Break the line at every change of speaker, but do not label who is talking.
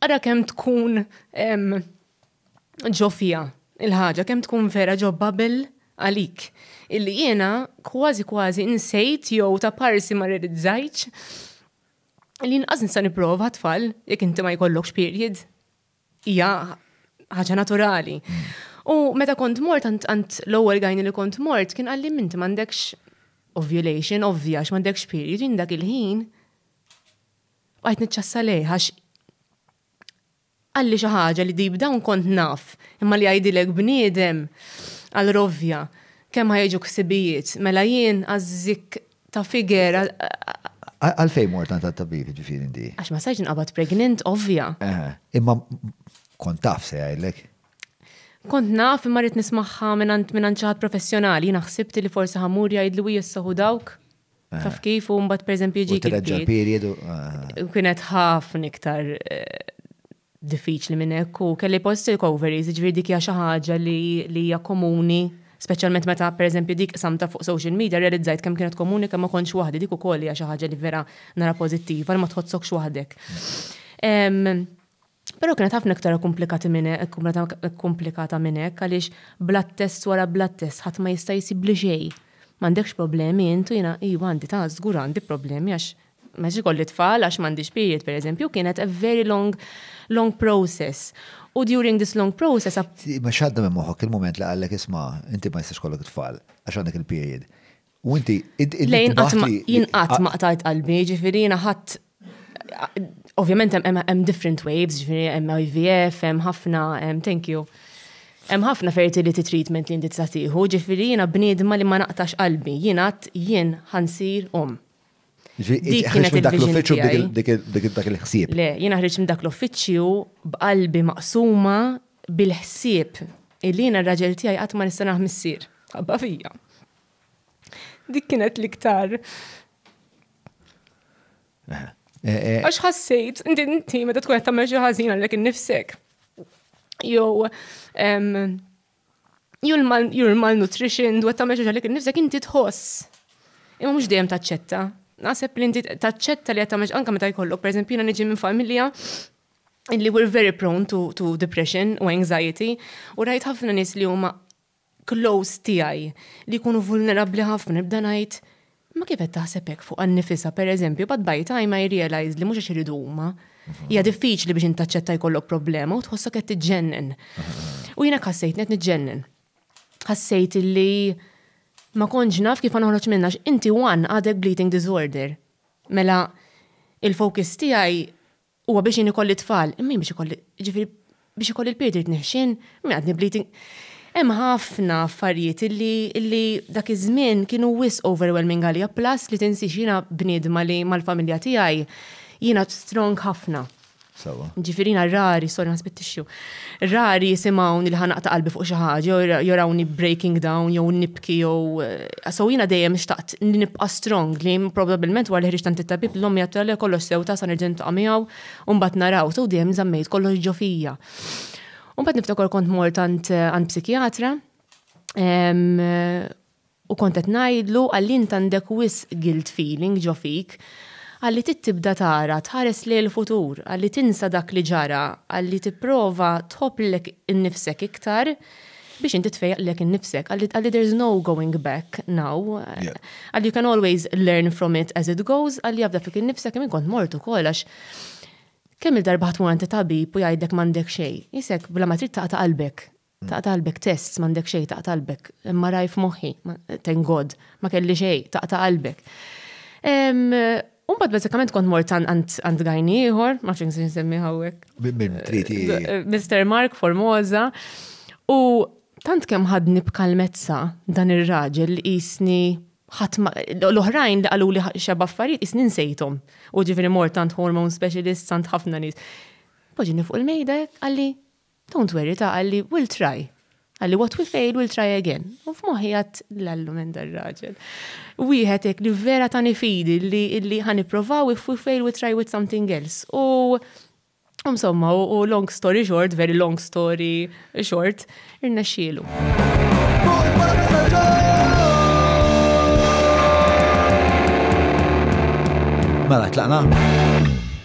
Ara kemm tkun ġo fija il-ħaġa, kemm tkun vera ġo Babel għalik. Illi jiena kważi kważi insejt jew ta' parsi ma realizzajtx li nqas nista' nipprova tfal jekk inti ma jkollokx period. Hija ħaġa naturali. U meta kont mort għand l-ewwel gajni li kont mort kien qalli minti m'għandekx ovulation ovvja għax m'għandekx period dak il-ħin Bqajt niċċassa lejh għax qalli xi ħaġa li deep down kont naf, imma li jgħidilek bniedem għal rovja kemm ħa jiġu ħsibijiet, mela jien għaż-żikk ta' figer.
Għalfejn mort għand tabib jiġifieri inti? Għax ma sajx nqabad
pregnant ovvja. Imma
kont taf se jgħidlek? Kont
naf imma rrid nismagħha minn xi ħadd professjonali, jiena ħsibt li forsi ħa mmur jgħidlu hi issa hu dawk. Taf kif, u mbagħad pereżempju jiġi. Treġġa l-period.
Kienet
ħafna iktar eh, diffiċli minn hekk u kelli post recoveries, ġifieri dik hija xi ħaġa li hija komuni Speċjalment meta pereżempju dik samta fuq social media realizzajt kemm kienet komuni kemm ma kontx waħdi dik ukoll hija xi ħaġa li vera nara pożittiva li ma tħossokx waħdek. Però kienet ħafna iktar ikkumplikati minn ikkumplikata minn hekk għaliex blood test wara blood test ħadd ma jista' jsibli xejn. M'għandekx problemi int u jiena iva għandi ta' żgur għandi problemi għax ma jistax ikolli tfal għax m'għandix period pereżempju u kienet a very long long process u during this long process Imma x'għadda minn
moħħok il-mument li qallek isma' inti ma jistax ikollok it-tfal għax għandek il-period. U inti, lejn
jinqat ma qtajt qalbi, ġifiri jina ħadd ovvjament hemm different waves, ġifiri hemm IVF, hemm ħafna, thank you. Hemm ħafna fertility treatment li inti tista' tieħu, ġifiri jina bniedma li ma naqtax qalbi, jina jien ħansir um.
Dik kienet dak l-uffiċċju dik dak il-ħsieb. Le, jina ħriġ minn dak
l-uffiċċju b'qalbi maqsuma bil-ħsieb illi jina r-raġel tiegħi qatt ma nista' naħ missier. Ħabba fija. Dik kienet l-iktar. Eh, eh. Għax ħassejt, inti inti meta tkun qed tagħmel xi ħażin għalek innifsek. Jew jew l-malnutrition dwar tagħmel xi għalek innifsek inti tħoss. Imma mhux dejjem taċċetta. Naħseb li inti taċċetta li qed tagħmel anke meta jkollok, pereżempju jiena niġi minn familja illi we're very prone to, to depression u anxiety u rajt ħafna nis li huma close tiegħi li jkunu vulnerabbli ħafna nibda ngħid ma kif qed taħseb hekk fuq annifisha pereżempju bad by time I realize li mhux għax iridu huma. Mhm. Hija diffiċli biex intaċċetta jkollok problema u tħossok qed tiġġennen. Mhm. U jiena ħassejt qed niġġennen. Ħassejt li ma konġ naf kif noħroġ minna inti one għadek bleeding disorder. Mela il-fokus tiegħi Huwa biex jien ikolli tfal, imma biex ikolli, ġifieri biex ikolli l-pirt irid neħxin, minn għadni bleeding. Hemm ħafna affarijiet illi illi dak iż-żmien kienu wis overwhelming għalija plus li tinsiex jiena bniedma li mal-familja tiegħi jiena strong ħafna. Sewa. Ġifieri jiena rari, sorry ma spittixxu. Rari jisimgħuni li ħa naqta' qalbi fuq xi ħaġa jew jorawni breaking down jew nibki jew so jiena dejjem xtaqt li nibqa' strong li probabbilment wara li ħriġt tant it-tabib l-omm jgħid le kollox sew ta' sa nerġa' niltaqa' miegħu u mbagħad naraw so dejjem żammejt kollox ġo fija. U mbagħad niftakar kont mort għand psikjatra U kont qed ngħidlu, Qalli int għandek wisq guilt feeling ġo fik. Qalli trid tibda tara, tħares lejn il-futur, qalli tinsa dak li ġara, qalli tipprova tħobb lilek innifsek iktar biex inti tfejjaq lilek innifsek. Qalli qalli there's no going back now. Qalli you can always learn from it as it goes, qalli afda fik innifsek kemm jien kont mort ukoll għax kemm-il darba ħadd tmur għand it-tabib u jgħidlek m'għandek xejn. Isek bla ma trid taqta' qalbek. Taqta' qalbek tests m'għandek xejn taqta' qalbek. MRI f'moħħi, thank God, ma kelli xejn, taqta' qalbek. U mbagħad bażikament kont mort għand gajni ieħor, ma nafx se nsemmi hawnhekk. Min trid
Mr. Mark
Formosa. U tant kemm ħadni b'kalmezza dan ir-raġel li qisni l-oħrajn li qalu li xeba affarijiet isni nsejthom. U ġifieri mort tant hormone specialist, tant ħafna nies. Poġini fuq il-mejda għalli Don't worry ta' qalli we'll try. Qalli what we fail we'll try again. U f'moħħi għad l-allu minn dar raġel. Wieħed hekk li vera tani fidi li ħan ipprovaw if we fail we try with something else. U Insomma, u long story short, very long story short, irna xielu.
Mela, tlaqna?